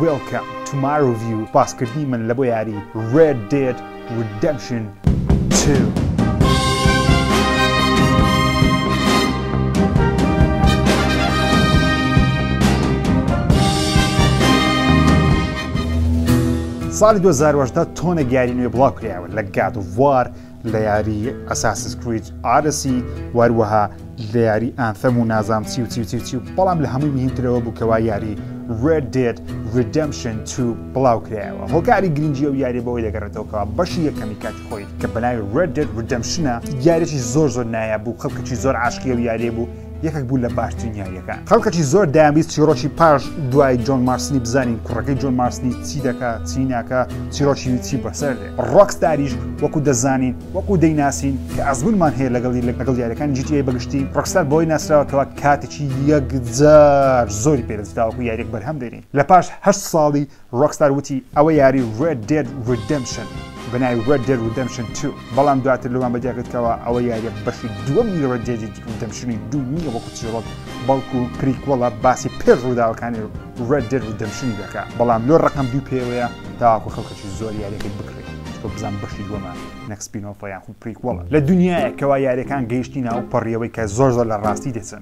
Welcome to my review باسکردنی من لە بۆ یاری Red Dead Redemption 2. ساڵی 2010 تۆنە گاری نوێ بڵاو کرایەوە لە گاد وار لە یاری ئەساسس کریج ئارسی واروەها لە یاری ئانثەم و نازام چی و چی و چی و چی و بەڵام لە هەمووی مهمترەوە بوو کەوا یاری Red Dead Redemption 2 بڵاو کرایەوە هۆکاری گرنگجی و یاری بەوەی دەگەڕێتەوەکەوە بەشی یەکەمی کاتی خۆی کە بەناوی Red Dead Redemption یاریی زۆر زۆر نایە بوو خەڵکەکی زۆر عاشقی و یاریێ بوو یەکێک بوو لە باشترین یاریەکان خەڵکەکی زۆر دەیانویست چیرۆکی پاش دوای جۆن مارسنی بزانین کوڕەکەی جۆن مارسنی چی دەکا چی ناکە چیرۆکی چی بەسەر دێ ڕۆکستاریش وەکو دەزانین وەکو دەیناسین کە ئەزمونمان هەیە لەگەڵی لە لەگەڵ یاریەکان جیتی بەگشتی ڕۆکستار بۆی ناسراوە کەوا کاتێکی یەکجار زۆری پێدەستراوەکو یاریێک بەرهەم دێنین لە پاش هەشت ساڵی ڕۆکستار وتی ئەوە یاری ڕێد دێد ڕیدەمپشن بە ناوی ڕێد دێد ڕیدەمپشن توو بەڵام دواتر لەوان بە دیار کرد کەوا ئەوە یاریە بەشی دووەمی ڕێد دێد ڕیدەمپشنی دوو نییە وەکو چیڕۆک بەڵکو پریکوەڵە باسی پێش ڕووداوەکانی ڕێد دێد ڕیدەمپشنی دەکا بەڵام لۆ ڕەقەم دووی پێوەیە تاوەکو خەڵکەکی زۆر یاریەکەی بکڕی چونکە بزانم بەشی دووەمە نەک سپینۆفە یاخود پریکوەڵە لە دونیایەک کەوا یاریەکان گەیشتینە ئەو پەڕیەوەی کە زۆر زۆر لە ڕاستی دەچن.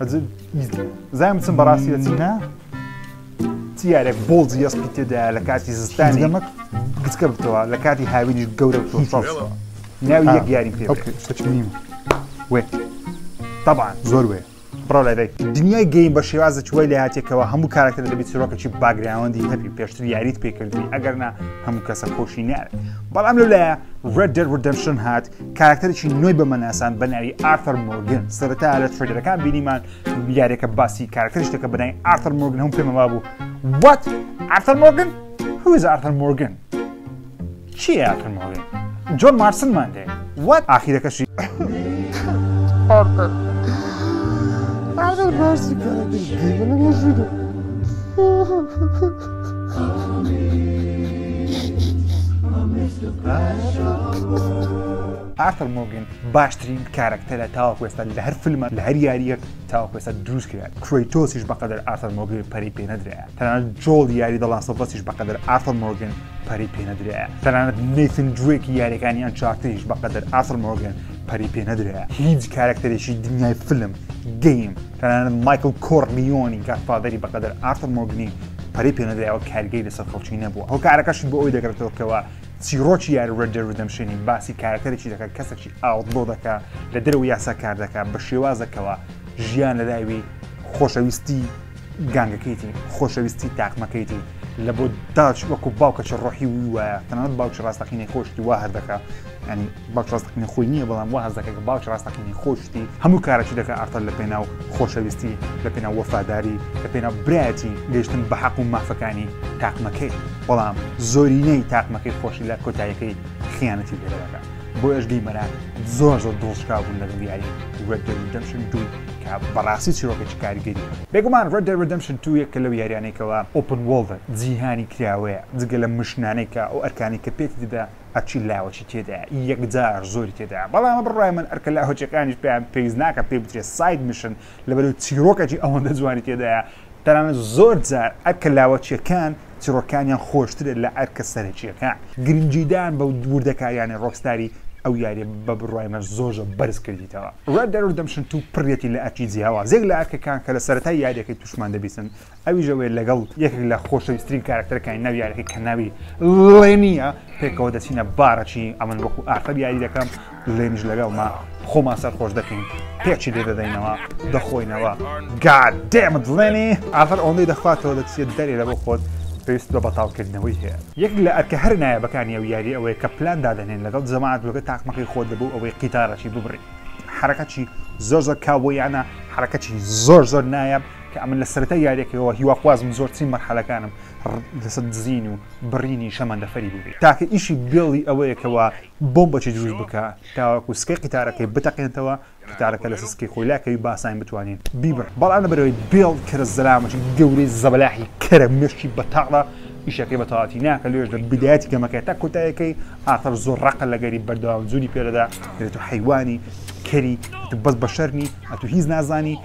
ئەجل ئیزی زایم بچم بەڕاستی ئەچی نا تیارێک بۆڵ جیەسپی تێدایە لە کاتی زستانی دەمەک گچکە بتەوە لە کاتی هاوینیش گەورە بتەوە ناوی یەک یاریم پێ بچنیم وێ طبعا زۆر وێ بڕۆ لای دنیای گەیم بە شێوازە چوی لە هاتێکەوە هەموو کارەکتەر دەبێت چیرۆکەی باگراوەندی هەبی پێشتر یاریت پێکردی ئەگەرنا هەموو کەسە خۆشی نارێت بەڵام لەلایە ڕێدەر ردەمشن هات کاراکتەرێکی نوێی بەمە ناسان بە ناوی ئارتەر مۆرگن سەرەتا لە ترێدەرەکان بینیمان یاریەکە باسی کاراکتەر شتەکە بەنای ئارتەر مۆرگن هەم پێمەوا بوو وات ئارتەر مۆرگن هوز ئارتەر مۆرگن چی ئارتەر مۆرگن جۆن مارسنمان دێ وات ئاخیرەکەشی ئارتەر ئارتەر باسی کاراکتەر شتەکە بەنای مۆرگن ئارثەر مۆگن باشترین کارەکتەرە تاوەکو ئێستا لە هەر فیلمە لە هەر یاریەک تاوەکو ئێستا دروست کرد کرۆیتۆسیش بەقەدر ئارثەر مۆگن پەری پێ نەدرایە تەنانەت جۆڵ یاری دەڵاسەبەسیش بەقەدر ئارثەر مۆگن پەری پێ نەدرایە تەنانەت نەیتن جوێکی یاریەکانی ئەن چارتیش بەقەدر ئارثەر مۆگن پەری پێ نەدرایە هیچ کارەکتەرێکی دنیای فیلم گەیم تەنانەت مایکڵ کۆرلیۆنی گادفادەری بەقەدەر ئارثر مۆرگنی پەرەی پێنەدرایەوە کارگەی لەسەر خەڵکی نەبووە هۆکارەکەشی بۆ ئەوی دەگرێتەوە کەوا چیڕۆکی یاری ڕێد دێد ڕیدەمشنی باسی کارەکتەرێکی دەکات کەسێکی ئاوتلۆ دەکا لە دەرەوەی یاسا کار دەکات بە شێوازەکەوە ژیان لە داوی خۆشەویستی گانگەکەیتی خۆشەویستی تاقمەکەیتی لە بۆ داچ وەکو باوکەچە ڕۆحی وی وایە تەنانەت باوکی ڕاستەقینەی خۆشتی وا هەر دەکا ینی باوک ڕاستەقینە خۆی نیە بەڵام واز دەکە کە باوکی ڕاستەقینەی خۆی شتی هەموو کارەکی دەکە ئارتەر لە پێناو خۆشەویستی لە پێناو وەفاداری لە پێناو برایەتی گەیشتن بە حەق و مافەکانی تاقمەکەی بەڵام زۆرینەی تاقمەکەی خۆشی لە کۆتایەکەی خیانەتی لێ دەکا بۆ ئەش گەیمەران زۆر زۆر دڵشکاو بوون لەگەڵ یاری Red Dead Redemption 2 کە بەڕاستی چیرۆکێکی کاریگەریە بێگومان Red Dead Redemption 2 یەکە لەو یاریانەی کەوا Open World ە جیهانی کراوەیە جگە لە مشنانەی کە ئەو ئەرکانەی کە پێتی دەدا ئەرکی لاوەکی تێدایە، یەکجار زۆری تێدایە، بەڵام بە بڕوای من ئەرکە لاوەکییەکانیش پێیان پێویست ناکات پێی بترێت ساید میشن، لەبەرئەوەی چیرۆکەکی ئەوەندە جوانی تێدایە، تەنانەت زۆرجار ئەرکە لاوەکییەکان چیرۆکەکانیان خۆشترە لە ئەرکە سەرەکییەکان، گرنگیدان بە وردەکارییانەی ڕۆکستاری ئەو یارییە بە بڕوای من زۆرجە بەرز کردیتەوە. Red Dead Redemption دوو پڕیەتی لە ئەرکی جیاواز، یەک لە ئەرکەکان کە لە سەرەتای یارییەکەی تووشمان دەبیتن، ئەویش ئەوەیە لەگەڵ یەکێک لە خۆشەویسترین کارەکتەرەکانی ناو یاریەکە کە ناوی ڵێنیە پێکەوە دەچینە بارەچی ئەمن وەکو ئارتەر یاری دەکەم لێنیش لەگەڵما خۆمان سەرخۆش دەکەین پێچی لێ دەدەینەوە دەخۆینەوە گاد دێمت ڵێنی ئافر ئەوەندەی دەخواتەوە دەچێت دەرێ لە بۆ خۆت پێویست بە بەتاڵکردنەوەی هەیە یەک لە ئەرکە هەر نایابەکانی ئەو یاری ئەوەیە کە پلان دادەنێن لەگەڵ جەماعەت لەگە تاقمەکەی خۆت دەبوو ئەوەی قیتارەکی ببڕی حرەکەکی زۆر زۆر کاوبۆیانە حرەکەکی زۆر زۆر نایاب کە ئەمن لە سەرەتای یاریەکەەوە هیواخوازم زۆرترین مەرحەلەکانم لەسەر دزین و بڕینی شەمەندەفەری بووبێ تاکە ئیشی بێڵی ئەوەیەکەوە بۆم بەچی دروست بکە تاوەکو سکەی قیتارەکەی بتەقێنتەوە قیتارەکە لە سسکی خۆی لاکەوی باساین بتوانین بیبڕ بەڵام لەبەرەوەی بێڵ کەرە زەلامەتی گەورەی زەبەلاحی کەرە مشکی بەتاڵە ئیشەکەی بەتەواتی ناکە لێش لە بدایەتی گەمەکەی تا کۆتایەکەی ئاخر زۆر ڕقە لەگەری بەردەوام جووری پێدەدا دەێت و حیوانی کەری بەس بەشەرنی ئەتو هیچ نازانی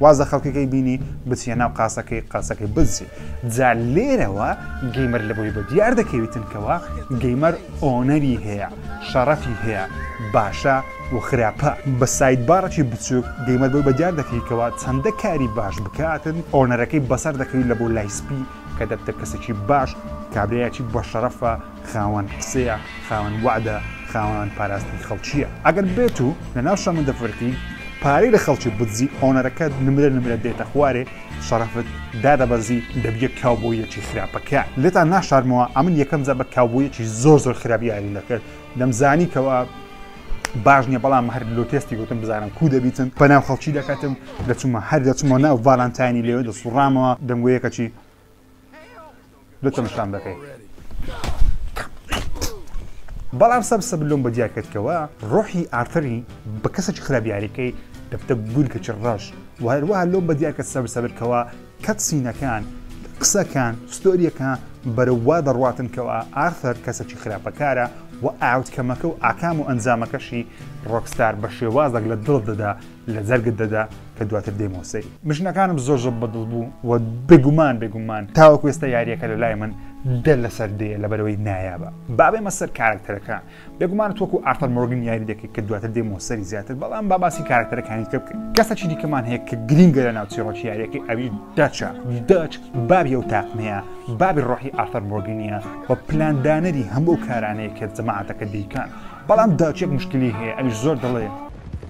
واز لە خەڵکەکەی بینی بچیە ناو قاسەکەی قاسەکەی بزجی جا لێرەوە گەیمەر لە بۆی بە دیار دەکەویتن کەەوە گەیمەر ئۆنەری هەیە شەڕەفی هەیە باشە و خراپە بە سایت باڕێکی بچووک گەیمەر بۆی بە دیار دەکەیکەوە چەندە کاری باش بکاتن ئۆنەرەکەی بەسەر دەکەوی لە بۆ لایسپی کە دەبتە کەسێکی باش کابرایەکی بەشەرەفە خاوەن قسەیە خاوەن وەعدە خاوەن پاراستنی خەڵکییە ئەگەر بێت و لە ناو شەمەندە فەرکی پارەی لە خەڵکی بدزی ئۆنەرەکە نمرە نمرە دێتە خوارێ شەڕەفت دادەبەزی دەبیە کاوبۆیەکی خراپەکە لێتان ناشارمەوە ئەمن یەکەم جا بە کاوبۆیەکی زۆر زۆر خراپ یاریم دەکرد دەمزانی کەەوە باش نیە بەڵام هەر لۆ تێستی گوتم بزانم کو دەبیتن بەناو خەڵکی دەکەتم دەچوومە هەر دەچمەوە ناو ڤالانتاینی لێوێ دەسوڕامەوە دەنگۆیەکەچی دوتم شام دەکەی بەڵام سەم سەب لۆم بە دیاکردکەوە ڕۆحی ئارتەری بە کەسێکی خراپیارەکەی دەبتە گول کە چ ڕەش و هەروەها لۆم بە دیاکە سەر سەبرکەوە کەت سینەکان قسەکان ستۆریەکە بەرەوا دەڕاتنکەوە ئارثەر کەسەکی خراپەکارە و ئاوتکەمەکە و ئاکام و ئەنجامەکەشی ڕۆکستار بە شێوازێک لە دڵ دەدا لە جەرگت دەدا کە دواتر دێمەوە سەری. مشنەکانم زۆر زۆر بەدڵ بوو و بێگومان بێگومان تاوەکو ئێستا یاریەکە لە لای من دە لەسەر دێ لەبەرەوەی نایابە بابێمە سەر کارکتەرەکە بێگومان تۆکو ئارتەر مۆرگن یاری دەکەیت کە دواتر دێمەوە سەری زیاتر بەڵام باباسی کارکتەرەکانی تر بکەین کەسەکی دیکەمان هەیە کە گرینگە لە ناوچی ڕۆژ یاریەکەی ئەوی داچە داچ بابی ئەو تاقمەیە بابی ڕۆحی ئارتەر مۆرگنیە و پلاندانەری هەموو کارانەیە کە جەماعەتەکە دەیکەن بەڵام داچێک مشکلی هەیە ئەویش زۆر دەڵێ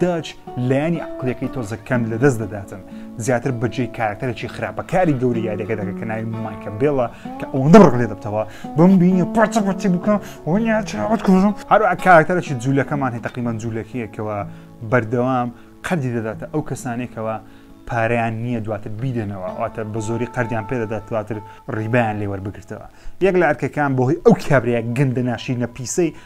داچ لایەنی عەقڵیەکەی تۆزە کەم لە دەست دەداتن زیاتر بەجێی کارکتەرێکی خراپە کاری گەوری یاریەکە دەکە کە ناوی مایکە بێڵە کە ئەوەندە ڕق لێ دەبتەوە بم بینە پارچە پارچی بکە وەنیا چاوت کوژم هەروە کارکتەرێکی جوولەکەمان هەیە تقریبان جوولەکەیەکەوە بەردەوام قەردی دەداتە ئەو کەسانێکەوە پارەیان نییە دواتر بیدەنەوە واتە بە زۆری قەردیان پێدەدات دواتر ڕیبیان لێوەربگرتەوە یەک لە ئەرکەکان بۆهی ئەو کابرەیە گەندە ناشی نەپیسەی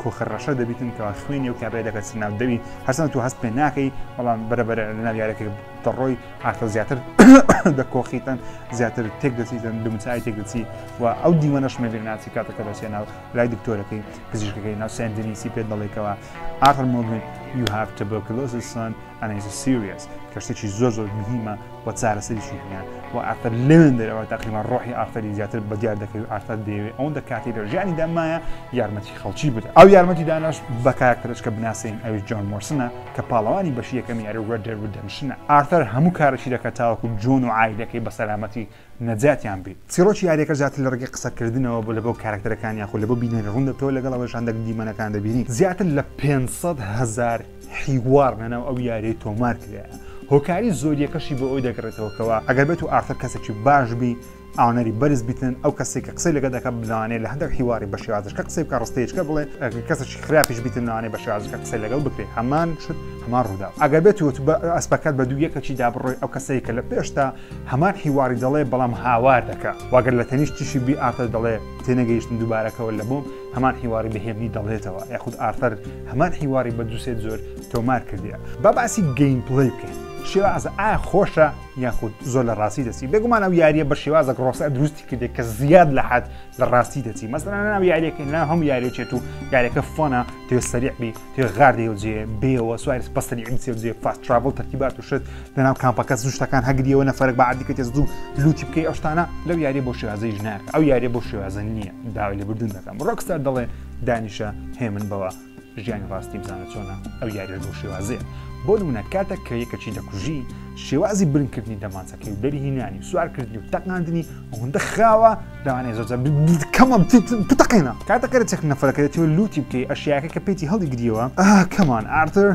کۆخە ڕەشە دەبیتن کەوا خوێنی و کابرای دەکە چ ناو دەوی هەرسەن تو هەست پێ ناکەی بەڵام بەرەبەر لەناو یارەکە دەڕۆی ئاخر زیاتر دەکۆخیتن زیاتر تێک دەچیتن دمچای تێک دەچی و ئەو دیمەنەش مەبیر ناچی کاتەکە دەچێ ناو لای دکتۆرەکەی پزیشکەکەی ناو سندنیسی پێ دەڵێکەوە ئاخر مۆگن you have tuberculosis son and is serious کەشتێکی زۆر زۆر مهمە و چارەسەریشی هەیە و ئارتەر لەوێن دەرەوە تاقیما ڕۆحی ئارتەری زیاتر بە دیار دەکەوێت ئارتەر دەیەوێت ئەوەندە کاتی لە ژیانی دامایە یارمەتی خەڵکی بدە ئەو یارمەتی داناش بە کاراکتەرش کە بناسین ئەوی جۆن مۆرسنە کە پاڵەوانی بەشی یەکەم یاری ڕێدێر ودەمشنە ئارتەر هەموو کارەشی دەکە تاوەکو جۆن و عایلەکەی بە سەلامەتی نەجاتیان بی چیڕۆکی یاریەکە زیاتر لە ڕگەی قسەکردنەوە بۆ لەگەڵ کاراکتەرەکان یاخود لەگەڵ بینەری ڕوون دەبتەوە لەگەڵ ئەوەشان دەک دیمەنەکان دەبینی زیاتر لە پێنج سەد هەزار حیوار لە ناو ئەو یاریە تۆمار کرایە، هۆکاری زۆریەکەشی بۆ ئەوی دەگەڕێتەوە کەوا ئەگەر بێت و ئارثەر کەسێکی باش بی ئاونەری بەرز بیتن ئەو کەسەی کە قسەی لەگەڵ دەکا لەوانەیە لە هەندێک حیواری بە شێوازەکە قسەی بکا ڕستەیەچکە بڵێ ئەگەر کەسێکی خراپیش بیتن لەوانەیە بە شێوازەکە قسەی لەگەڵ بکرێ هەمان شت هەمان ڕووداو ئەگەر بێت و تو ئەسپەکەت بە دوو یەکەکی دا بڕۆی ئەو کەسەی کە لە پێشتا هەمان حیواری دەڵێ بەڵام هاوار دەکا و ئەگەر لە تەنیشتیشی بی ئارثەر دەڵێ تێنەگەیشتم دووبارە کەوە لە بۆم هەمان حیواری بە هێمنی دەڵێتەوە یاخود ئارثەر هەمان حیواری بە دوسێ جۆر تۆمار کردیە با باسی گەیم پلەی بکەین شێوازە ئا خۆشە یاخود زۆر لە ڕاستی دەچی بێگومان ئەو یاریە بە شێوازە ڕۆسە دروستی کردێک کە زیاد لە حد لە ڕاستی دەچی مەسەرانە ناو یاریەکەی ناو هەم یاریێت و یاریەکە فۆنە تێ سەریعبی تێ غار دێ و جێ بێ و سوایرس پەستەری ئینسێ و جێ فاست تراڤڵ تەرکیبات و شت لەناو کامپەکە زوو شتەکان هەگریەوە نەفەرەک بە عادی کەتێ زوو لوتی بکەی ئەو شتانە لەو یاریە بۆ شێوازی ژنار ئەو یاریە بۆ شێوازە نییە داوای لە بردون دەکەم ڕۆکستار دەڵێ دانیشە هێمن بەوە ژیانی ڕاستی بزانە چۆنە ئەو یاریش بۆ شێوازەیە بۆ نمونە کاتێک کە یەکەچی دەکوژی شێوازی برنکردنی دەمانچەکەی و دەری هینانی سوارکردنی و تەقاندنی ئەوەندە خراوە لەوانەیە زۆر جار کەمە بتەقێنە کاتە کەرەچەک نەفرەکە دەتەوە لوتی بکەی ئەشیاکە کە پێیتی هەڵی گریەوە ئا کەمان ئارتر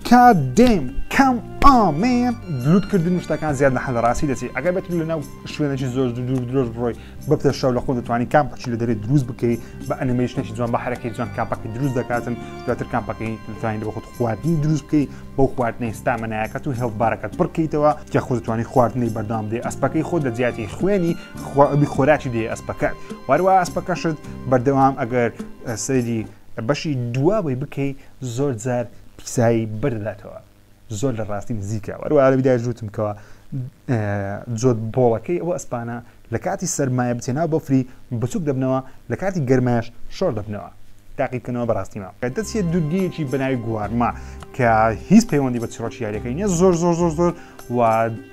کات دێم کەم ئامێن لوتکردن و شتەکان زیاد لە حەلە ڕاستی دەچێت ئەگەر بێت لە ناو شوێنێکی زۆر دوور درۆژ بڕۆی بە پێشەو لە خۆ دەتوانانی کامپەچی لە دەرێ دروست بکەی بە ئەنیمەیشنێکی جوان بە حرەکەی جوان کامپەکە دروست دەکاتن دواتر کامپەکەی توانین بە خۆت خواردنی دروست بکەی بۆ خواردنەی ستامەنایەکەت و هێڵبارەکەت بڕکەیتەوە کە خۆ دەتوانانی خواردنەی بەردام دێ ئەسپەکەی خۆ لە جیاتی خوێنی تخوا ئەبی خۆراکی دێ ئەسپەکەت واروا ئەسپەکەشت بەردەوام ئەگەر سەیری بەشی دواوەی بکەی زۆر جار پیسایی بەرداتەوە زۆر لە ڕاستی نزیکە وەروە ئەرەبیدا ژوتم کەەوە جۆت بۆڵەکەی ئەوە ئەسپانە لە کاتی سەرمایە بچێنا بەفری بچوک دەبنەوە لە کاتی گەرمایش شۆر دەبنەوە تاقیبکەنەوە بەڕاستیمە دەچێت دوورگەیەکی بەناوی گوارما کە هیچ پەیوەندی بە چڕۆکی یاریەکەی نیە زۆر زۆر زۆر زۆر و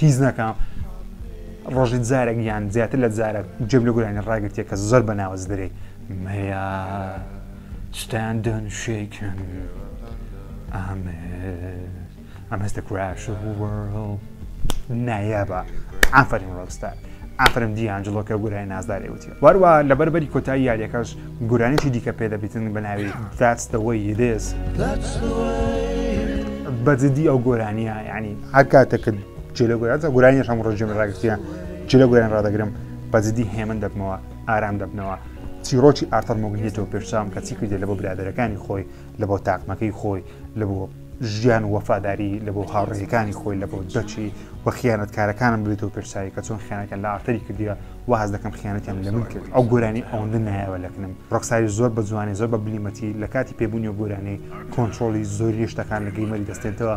هیچ ناکەم ڕۆژی جارێک یان زیاتر لە جارێک جێب لە گورانی ڕاگرتێ کە زۆر بە ناوەز درێ مەیا شتان دەن شێکن ئامێ ئەم هەستە کراش نایابە ئافرین ڕۆستار ئافرم دیانجلۆکە گورای نازدارێ وتی واروا لە بەربەری کۆتایی یاریەکەش گورانێکی دیکە پێدەبیتن بە ناوی داستەوەی یدێز بەجددی ئەو گۆرانیە ینی هەر کاتێک کە جلە گوێرازە گورانیش هەم ڕژێم ڕاگرتیە جلە گوێن ڕدەگرم بە جدی هێمن دەبمەوە ئارام دەبنەوە چیرۆکی ئارتەر مۆگنێتەوە پێشسام کە چی کردێت لە بۆ برادەرەکانی خۆی لە بۆ تاقمەکەی خۆی لە بۆ ژیان وەفاداری لە بۆ هاوڕێەکانی خۆی لە بۆ دەچی و خیانەت کارەکانم بێتەوە پێشساوی کە چۆن خیانەکە لە ئارتەری کردیە واز دەکەم خیانەتیان لە من کرد ئەو گۆرانی ئەوەندە نایەوە لەکنم ڕۆکساری زۆر بە جوانی زۆر بە بلیمەتی لە کاتی پێبوونی و گۆرانی کۆنتترۆلی زۆری شتەکان لە گەیمەری دەستێنەوە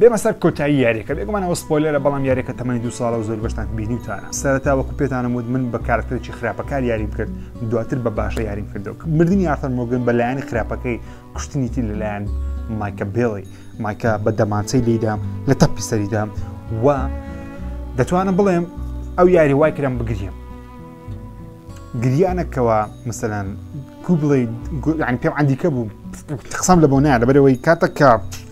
بێمە سەر کۆتایی یاریەکە بێگومان ئەوە سپۆیلەرە بەڵام یاریەکە تەمەنی دو ساڵە و زۆر بەشتان بینیوتانە سەرەتا وەکو پێتانم وت من بە کارکتەرێکی خراپەکار یاریم کرد دواتر بە باشە یاریم کردو مردنی یارتەر مۆگن بە لایەنی خراپەکەی کوشتنیتی لەلایەن مایکە بێڵی مایکە بە دەمانچەی لیدام لە تەپی سەریدام و دەتوانم بڵێم ئەو یاری وای کرم بگریم گریانەکەەوە مثلەن کوبڵی پێم ئەندیکە بوو قسەم لە بۆ نایە لەبەرەوەی کاتەکە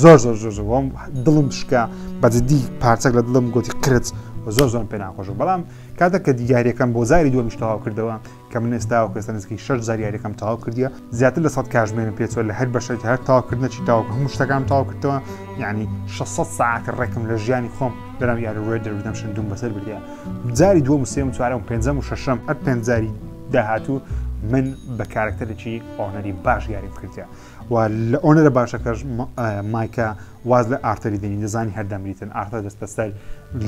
زۆر زۆر زۆر زۆر وام دڵم شکا بە جدی پارچەک لە دڵم گوتی قرت و زۆر زۆر پێ ناخۆش و بەڵام کاتە کە دیگاریەکەم بۆ زاری دووەمیش تەواو کردەوە کە من ئێستا و کەسە نزیکەی شش زاریارەکەم تەواو کردیە زیاتر لە سەد کاژمێرم پێچوە لە هەر بەشێک هەر تاواکردنەچی تاو هەموو شتەکان تاو کردەوە یعنی 600 ساعت ڕێکم لە ژیانی خۆم لەناو یاری ڕێ دەردەم شندوم بەسەر بردە جاری دووەم و سێم چوارەم پێنجەم و شەشەم ئەت پێنجاری داهاتوو من بە کارکتەرێکی ئۆنەری باش یاریم کردە و لە ئۆنەرە باشەکەش مایکە واز لە ئارتەری دەنی دەزانی هەردەمریتن ئارتە دەستە سەر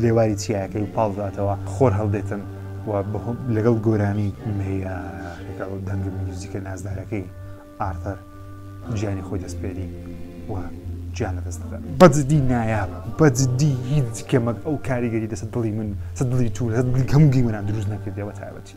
لێواری چیاکەی و پاڵداتەوە خۆر هەڵدێتن و لەگەڵ گۆرانی لەگەڵ دەنگ میوزیکە نازدارەکەی ئارتەر گیانی خۆی دەستپێری و گیان لە دەست دەدات بەجددی نایابە بەجددی هیچ کەمەک ئەو کاریگەری دەسە دڵی من سە دڵی تو هەم گیمەران دروست نەکردەوە تایبەتی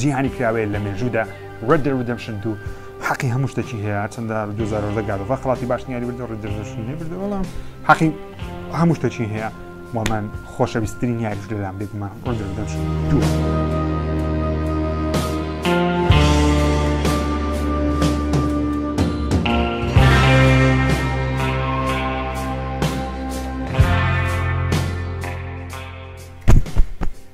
جیهانی کراوەیە لە مێژوودا Red Dead Redemption 2 حەقی هەموو شتێکی هەیە چەندە 2010 گادەوە خڵاتی باش نیاری بردە Red Dead Redemption نەبردە بەڵام حەقی هەموو شتێکی هەیە و من خۆشەویستترین یاریش لەلام بێگومە Red Dead Redemption 2 Thank you.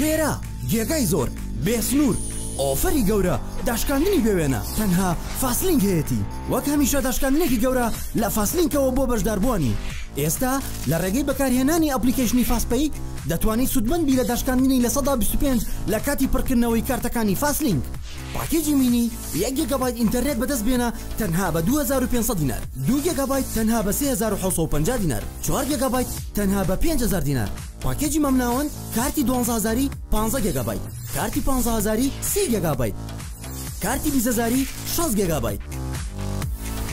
خێرا جێگای زۆر بێ سنوور ئۆفەری گەورە داشکاندنی بێوێنە تەنها فاسلینگ هەیەتی وەک هەمیشە داشکاندنێکی گەورە لە فاسلینکەوە بۆ بەشداربووانی ئێستا لە ڕێگەی بەکارهێنانی ئەپلیکەیشنی فاسپەیک دەتوانیت سوودمەند بی لە داشکاندنی لە سەدا 25 لە کاتی پڕکردنەوەی کارتەکانی فاسلینگ پاکێجی مینی یەک گێگابایت ئینتەرنێت بەدەست بێنە تەنها بە 2500 دینار دوو گێگابایت تەنها بە 3550 دینار چوار گێگابایت تەنها بە 5000 دینار پاکێجی مامناوەند کارتی دوانزە هەزاری پانزە گێگابایت کارتی پانزە هەزاری سی گێگابایت کارتی بیست هەزاری شەست گێگابایت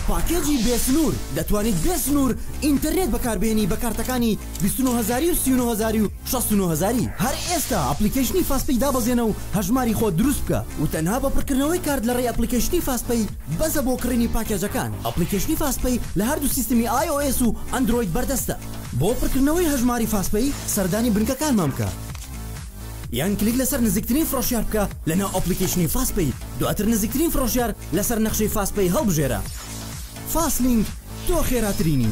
پاکێجی بێ سنوور دەتوانیت بێ سنوور ئینتەرنێت بەکاربێنی بە کارتەکانی بیست و نۆ هەزاری و سی و نۆ هەزاری و شەست و نۆ هەزاری هەر ئێستا ئەپڵیکەیشنی فاست پەی دابەزێنە و هەژماری خۆت دروست بکە و تەنها بە پڕکردنەوەی کارت لەڕێی ئەپڵیکەیشنی فاست پەی بەسە بۆ کڕینی پاکێجەکان ئەپڵیکەیشنی فاست پەی لە هەردوو سیستمی ئای ئۆ ئێس و ئەندرۆید بەردەستە. بۆ پڕکردنەوەی هەژماری فاسپەی سەردانی بنکەکانمان بکە یان کلیک لەسەر نزیکترین فرۆشیار بکە لەناو ئەپلیکەیشنی فاسپەی دواتر نزیکترین فرۆشیار لەسەر نەخشەی فاسپەی هەڵبژێرە فاسلینک تۆ خێراترینی.